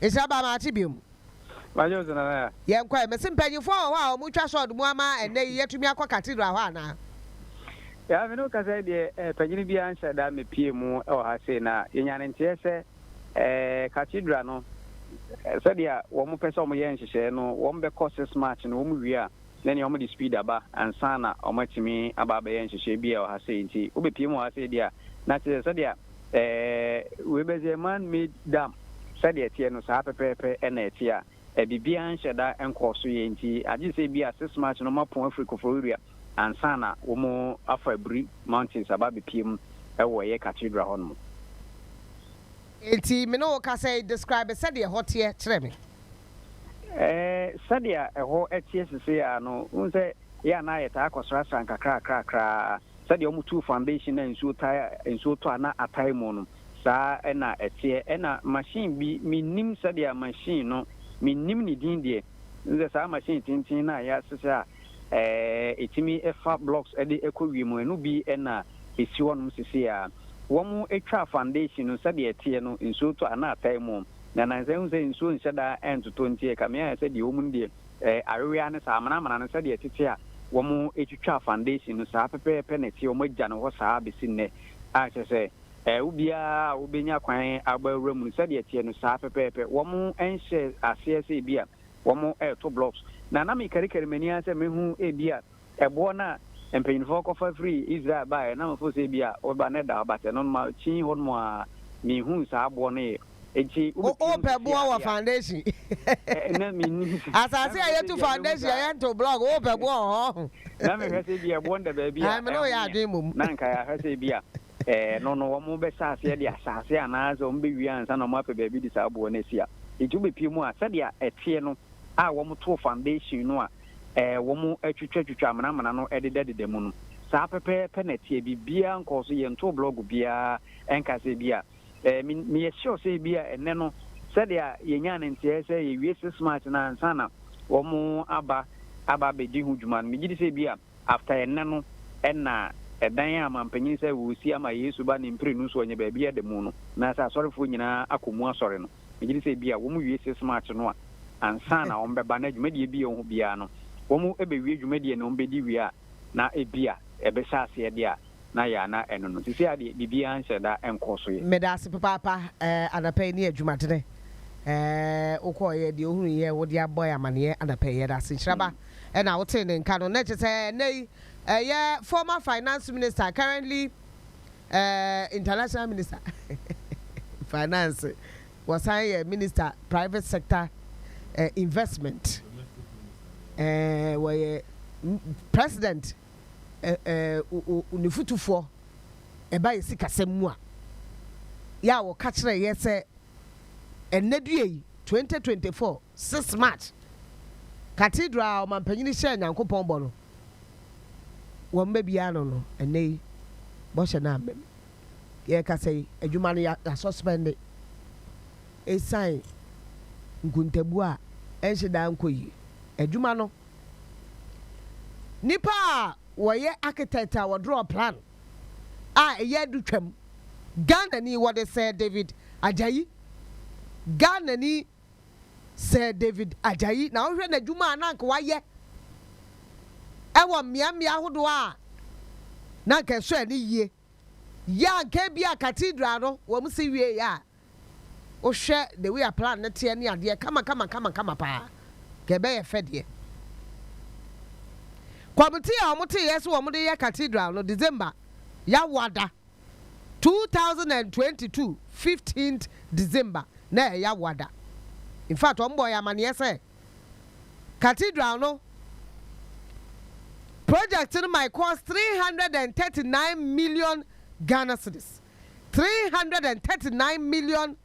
Esra ba ma ate biom. Majo nso nana ya. Yɛn kɔɛ. Mese mpanyinfoɔ wɔ hɔ a wɔn twa sɔɔd mu ama ɛnnɛ yi yɛtumi akɔ cathedral hɔ anaa? Yaa me ne wo kasa yi deɛ eh, panyini biara nhyɛ da mepie mu wɔ ha sei na yɛnya ne nteɛ sɛ eh, cathedral no sɛdeɛ wɔn pɛ sɛ wɔn yɛ nhyehyɛɛ no wɔn bɛkɔ six march no wɔn wie a ne nea wɔde speed aba ansa na wɔatumi aba abɛyɛ nhyehyɛe bi a ɛwɔ ha sei nti wobepue mu wɔ ha sei deɛ a na kyerɛ sɛ sɛdeɛ ɛɛ wei bɛsɛ man made dam sɛdeɛ ɛteɛ no saa pɛpɛɛpɛ ɛna ɛteɛ a ɛbibiara nhyɛ da nkɔɔ so yɛ nti agye sɛ bi a six march no wɔapɔn afiri koforiria ansa na wɔn afa abiri mountains aba abepue mu ɛwɔ ɛyɛ cathedral hɔ nom. Nti me ne wo kasa yi describe sɛdeɛ ɛhɔ teɛ kyerɛ me. Ɛɛ, sɛdeɛ ɛhɔ teɛ seseaa no, wohu sɛ yɛ a na yɛtaa kɔsrasra nkakrakrakra ara. Sɛdeɛ wɔtuu foundation na nsuo taa nsuo tɔ a na atae mu no, saa ara na ɛteɛ. Ɛnna machine bi, mennim sɛdeɛ machine no, mennim ne din deɛ. Wohu sɛ saa machine tenten no a yɛasesa a ɛɛ ɛtumi fa blocks de kɔ wiem no, ɛno bi na ɛsi hɔnom seseaa. Wɔtwaa foundation no, sɛdeɛ ɛteɛ no, nsuo tɔ a na atae mu. Na nansa ehu sɛ nsuo nhyɛ da ntotɔ nti ɛka me ayɛ sɛ deɛ wɔn no deɛ ɛɛ awewe ara ne saa amena amena no sɛdeɛ ɛtete a wɔn twitwa foundation no saa pɛpɛɛpɛ na ɛteɛ wɔn agya no hɔ saa bɛsi nnɛ a kyerɛ sɛ ɛɛ wo biara a wobɛnya kwan aba awura mu no sɛdeɛ ɛteɛ no saa pɛpɛɛpɛ wɔn nhyɛ aseɛ sɛ ebi a wɔn ɛɛto blocks na na mekarikari m'ani ara sɛ mɛhu ebi a Ɛboɔ no a mpanimfoɔ kɔfa firii Israel baeɛ na mefoo sɛ ebia wobɛba na ɛda hɔ, but ɛno no makyin hɔ nom ara menhuu saa aboɔ no yɛ. Nti wobɛtumi ahu Wopɛ sisi boɔ wɔ adeɛ a foundation. ɛ, na mennim sɛ, na Asase a mehwɛ sɛ yɛtu ebia mɛhu foundation a saa, yɛnto block wopɛ boɔ wɔ hɔ. na mehwɛ sɛ ebia ɛboɔ no da baabi a Ae, me ne wo yɛ ɛho yɛ, adwene mmom. na anka yɛahwɛ sɛ ebia eh, ɛno no wɔbɛhyɛ aseɛ de asase anaasɛ wɔbɛwie ansa na wɔapɛ baabi de saa aboɔ no asi a, nti wobɛpue mu a sɛdeɛ ɛteɛ no a wɔtoo foundation no a wɔatwitwatwitwa amenamena no dedadeda mu no, saa pɛpɛɛpɛ na ɛteɛ. Biribiara nkɔɔ so. Yɛntoo blɔg biara. Ɛnka sɛ ebia meyɛ sure sɛ ebia ɛnnɛ no, sɛnea yenyaa no nteɛɛ sɛ yɛawie Six March no ansa na wɔaba aba abedi ho dwuma no, migye di sɛ ebia after ɛnnɛ no na ɛdan a mampanyin sɛ wɔresi ama Yesu Ba ne mprenu so ɔnyɛ baabi adamu no, anaasɛ asɔrefo nyinaa akɔ mu asɔre no. Megye di sɛ ebia wɔwie Six March no a, ansa na wɔbɛba na dwumadie biara a wɔwɔ hɔ biara no, wɔbɛwie dwumadie no, wɔbɛdi wie a, na ebia ɛbɛhyɛ aseɛ deɛ a na ayɛ a na ɛno no. Seesei ara deɛ, biribiara nhyɛ da nkɔɔ so yɛ. Meda ase papaapa eh, anapa yi ne adwumadene eh, wo kɔɔ yɛ, deɛ ohunu yɛ, wo de abɔ yɛ amaneɛ anapa yi, yɛda ase. Nhyira ba ɛna wo tee ne nka no, na ɛkyɛ sɛ ɛnɛ yi ɛyɛ former finance minister, currently Eh international minister finance wɔsan yɛ minister private sector eh investment eh wɔyɛ president eh eh ne futufoɔ ɛba yɛ sikasɛm mu a yɛ a wɔka kyerɛ yɛ sɛ ɛnnɛ dua yi twenty twenty four six march cathedral a ɔmampanyini hyɛɛ nyankopɔn bɔ no wɔ mma biara ano no, ɛnnɛ yi bɔhyɛ no amma mu. Deɛ yɛrekasa yi, adwuma no yɛasɔspɛnde ɛsiane nkuntabuo a ɛnhyɛ da nkɔ yie. Adwuma no, nnipa a wɔyɛ architect a wɔdrɔɔ plan a ɛyɛ adutwam, Ghanani, wɔde sɛɛ David Ajayi, Ghanani Sɛ David Ajayi na wohwɛ n'adwuma a na anka wayɛ wɔ mmeammea ahodoɔ a na anka ɛsɔ ani yie yɛ a anka ebia Cathedral no wɔn si wieeɛ a wohwɛ the way a plan no teɛ ne adeɛ kamakamakama paa anka ɛbɛyɛ fɛ deɛ. Kɔmite a wɔteeɛ sɛ wɔde yɛ Cathedral no December Yawoada two thousand and twenty two fifteenth December na ɛyɛ Yawaa da. Infact wɔn bɔɔ yɛn amaneɛ sɛ Cathedral no project no might cost three hundred and thirty nine million Ghana cedis, three hundred and thirty nine million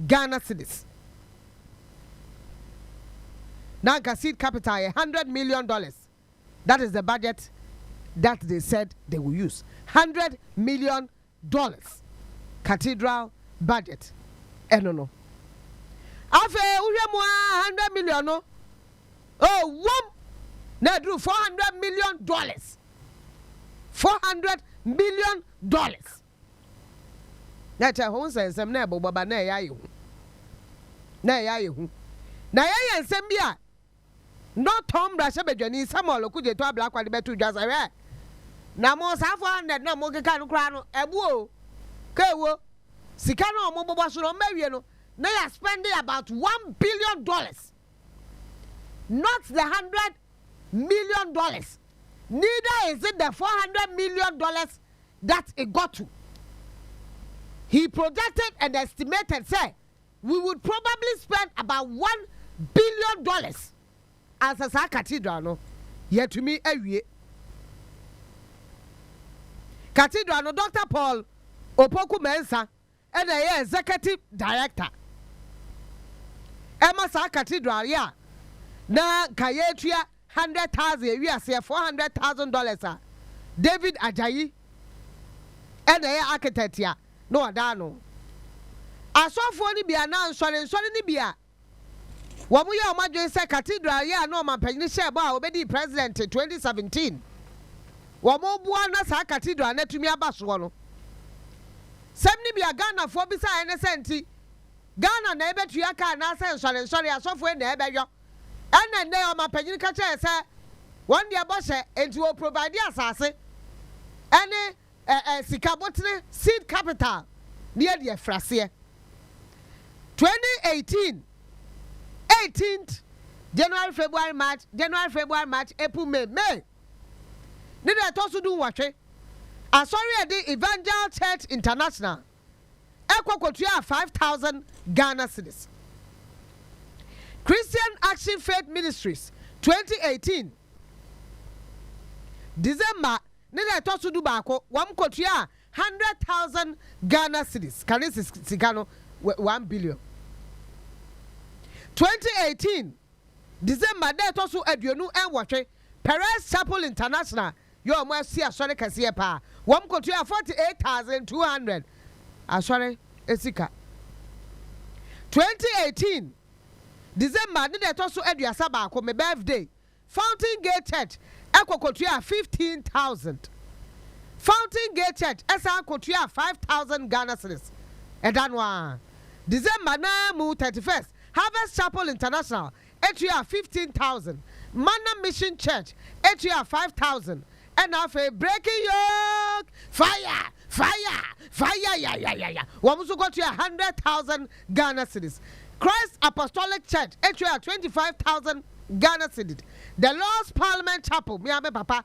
Ghana cedis. Na anka seed capital yɛ hundred million dollars. that is the budget that they said they will use, hundred million dollars cathedral budget ɛno no. Afei wohwɛ mu ara hundred million no ɛwom na aduru four hundred million dollars, four hundred million dollars. Na ɛkyɛ ho nsɛnsɛm na ɛbobɔ ba na ɛyɛ ayɛ hu, na ɛyɛ ayɛ hu. Na yɛyɛ nsɛm bi a. Norton mmarahyɛbadwani Samuel Okudzeto Ablakwa de bɛtoo dwa sɛ, Hwɛ, na mo saa 400 no a mokeka no koraa no, ɛbo o, ka ɛwo. Sika no a wɔbobɔ so no, wɔawie no, na yɛaspɛnde about one billion dollars, not the hundred million dollars, neither is it the 400 million dollars that it got to. He projected and estimated sɛ, We would probably spend about one billion dollars ansa saa cathedral no yɛatumi awie. Cathedral no Doctor Paul Opoku Mensah na ɛyɛ Executive Director. Ɛma saa cathedral yi a na nka yɛretua Hundred thousand ewi ase yɛ four hundred thousand dollars a David Ajayi na ɛyɛ architect a na ɔda ano. Asɔfoɔ no bi anaa nsɔre nsɔre no bi a wɔn yɛ wɔn adwene sɛ cathedral yɛ a na ɔmampanyini hyɛɛ bɔ a ɔbɛdii president twenty seventeen wɔn boa na saa cathedral no atumi aba soɔ no sɛm no bi a Ghanafoɔ bisaeɛ ne sɛ nti Ghana na ɛbɛtua ka anaa sɛ nsɔre nsɔre asɔfoɔ na ɛbɛyɔ Ɛna nnɛ ɔmanpanyin ka kyerɛ yɛn sɛ wɔn deɛ bɔhyɛ nti wɔ provide asase ɛne ɛ ɛ sika botene seed capital ne yɛde afiri aseɛ 2018 18th January February March January February March April May May ne deɛ ɛtɔ so du nwɔtwe asɔre a ɛde Evangel Church International kɔ kɔtuaa five thousand Ghana cedis. Christian Action Faith Ministries twenty eighteen December ne da a ɛtɔ so dubaako, wɔkɔtuaa hundred thousand Ghana cedis, kane sika no one billion. Twenty eighteen December da a ɛtɔ so aduonu nwɔtwe, Perez Chapel International yɛ wɔn asi asɔre kɛseɛ paa. Wɔn kɔtua 48,200 asɔre sika. 2018 December ne da ɛtɔ so aduasa baako, me birthday, Fountain Gate Church kɔ kɔtuaa 15,000. Fountain Gate Church san kɔtuaa 5,000 Ghana cedis ɛda no ara. December no ara mu 31st, Harvest Chapel International tuaa fifteen thousand, Manna Mission Church tuaa five thousand, ɛna afei Breaking Yoke Fire Fire Fire Yayayaya wɔn nso kɔtuaa hundred thousand Ghana cedis, Christ Apostolic Church tuaa twenty five thousand Ghana cedid, The Lord's Parliament Chapel, me ara me papa,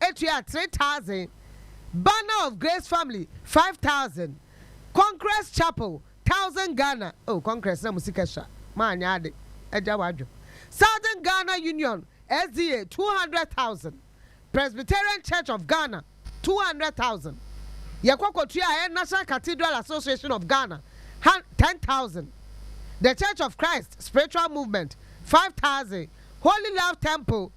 Etua three thousand, Banner of Grace Family five thousand, Conquerors Chapel thousand Ghana oh Conquerors na mo sika sua mo anyɛ ade agya wadwo Southern Ghana Union SDA two hundred thousand, Presbyterian Church of Ghana two hundred thousand, Yɛkɔ kɔtua yɛn National Cathedral Association of Ghana han ten thousand, The Church of Christ Spiritual Movement five thousand, Holy Love Temple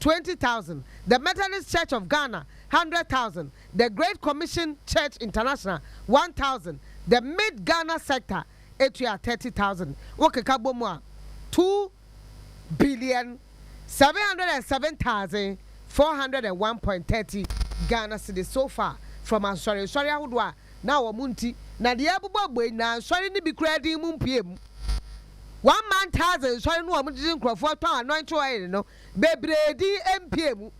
twenty thousand, The Methodist Church of Ghana, hundred thousand, The Great Commission Church International, one thousand, The Mid-Ghana Sector tua thirty thousand. Wokeka bɔ mu a, two billion, seven hundred and seven thousand, four hundred and one point thirty Ghana cedis so far from asɔrensɔre ahodoɔ a na wɔn nti na deɛ ɛrebobɔ abɔ yi na nsɔre no bi koraa din mu mpue mu. One man thousand nsɔre no wɔn gyegye nkurɔfoɔ tɔn anointing oil no Bebree din mpia mu.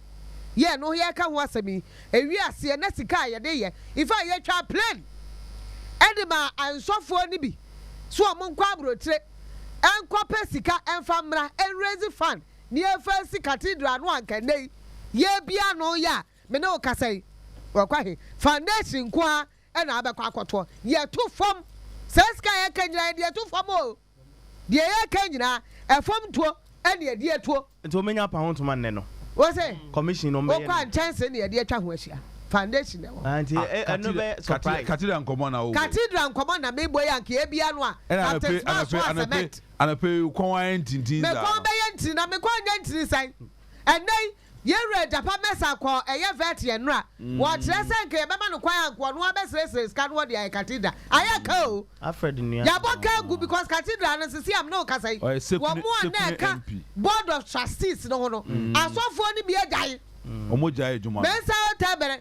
Yɛ no yɛka ho asɛm yi ewie aseɛ na sika a yɛde yɛ ifaa yɛtwaa plane ɛde maa ansɔfoɔ no bi so ɔmo nkɔ abrotire nkɔ pɛ sika nfa mmra nrezi fund ne ɛfa si cathedral no anka nnɛ yi yɛbia no yɛ a me ne wo kasa yi wakɔ ahe foundation nkoaa ɛna abɛkɔ akɔtoɔ yɛto fam saa sika yɛka nyinaa yɛde to fam oo. Deɛ yɛreka nyinaa, ɛfam tuo ne ɛdeɛ tuo. Nti wɔmɛnya apa ho ntoma nnɛ no? Wo se, Commission no wɔn bɛyɛ no. Wokɔ a nkyɛnse ne yɛde atwa ho ahyia. Foundation na ɛwɔ hɔ. Ah, nti ɛ- ɛ- ɛno bɛyɛ surprise. Cathedral nkɔmmɔ na wowɔ. Cathedral nkɔmmɔ na mebɔ yi anka yɛbia no a, Ɛna anɔpe Captain Smart anɔpe so a anɔpe cement. anɔpe yi kɔn ayɛ ntintin Me saa kɔn no. bɛyɛ ntini na me kɔn nyɛ ntini sɛn? Ɛnnɛ yi Yɛn wura Gyapa Mensah kɔɔ ɛyɛ vet yɛn nora wɔ kyerɛ sɛ nka yɛbɛma no kwan anka ɔno ara bɛsresre sika no ɔde ayɛ cathedral ayɛ ka o yɛabɔ ka agu because cathedral no sese a mene wo kasa yi wɔn a na ɛka board of trustees no ho no asɔfoɔ no bi agyae Mensah Otebere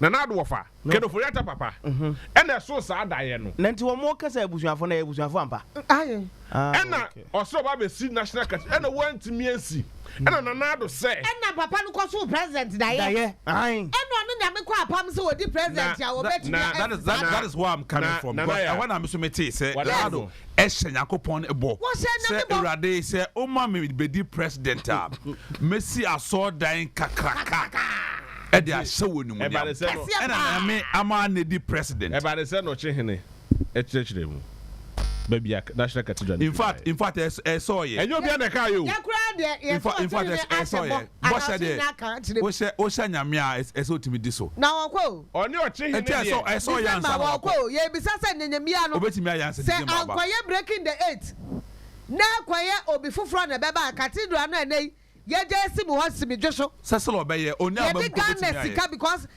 Nana Addo wɔfa Kedofori Atta papa ɛna ɛso saa daeɛ no. Na nti wɔn ka sɛ abusuafo no ɛyɛ abusuafo ampa? Aye. Ɛna ɔsɛ ɔba abɛsi National Cathedral ɛna wɔantumi ansi ɛna Nana Addo sɛ. Ɛna papa no kɔsoo President daeɛ. Daeɛ aye. Ɛna ɔne Nyame kɔ apam sɛ ɔdi President a wɔbɛtumi asi saa daeɛ. That is where I'm coming from because ɛhɔ na me nso metee sɛ Nana Addo. hyɛ Nyankopɔn bɔ sɛ, Awurade, sɛ woma me bedi president a, mesi asɔɔdan kakraka de ahyɛ wo animuonyam. Ɛna Nyame ama anedi president. Ɛbade sɛ nɔkye hene kyerɛkyerɛ mu ba bia National Cathedral no firi baɛ. In fact, ɛsɔɔyɛ. Ɛnyɛ obia na ɛkaayɛ o. Yɛ koraa deɛ yɛto ɔkye hene ahyɛ bɔ. Bɔhyɛ deɛ, wohyɛ wohyɛ Nyame a, ɛsɛ sɛ otumi di so. Na ɔkɔ o. Ɔne ɔkyehene deɛ. Nti ɛsɛ ɛsɛ ɔyɛ ansa na wakɔ. December ɔkɔ o, yɛbisa sɛ Nyenyemia no. Obetumi ayɛ ansa December aba. Sɛ ankɔyɛ breaking the eight, na ɛkɔyɛ obi foforɔ na ɛbɛba a, cathedral no a ɛnɛ yi yɛgya esi mu hɔ simidwe so. Sɛ sɛ ɔbɛyɛ, onii a ɔbɛm mpo betumi ayɛ. Yɛde Ghana sika because.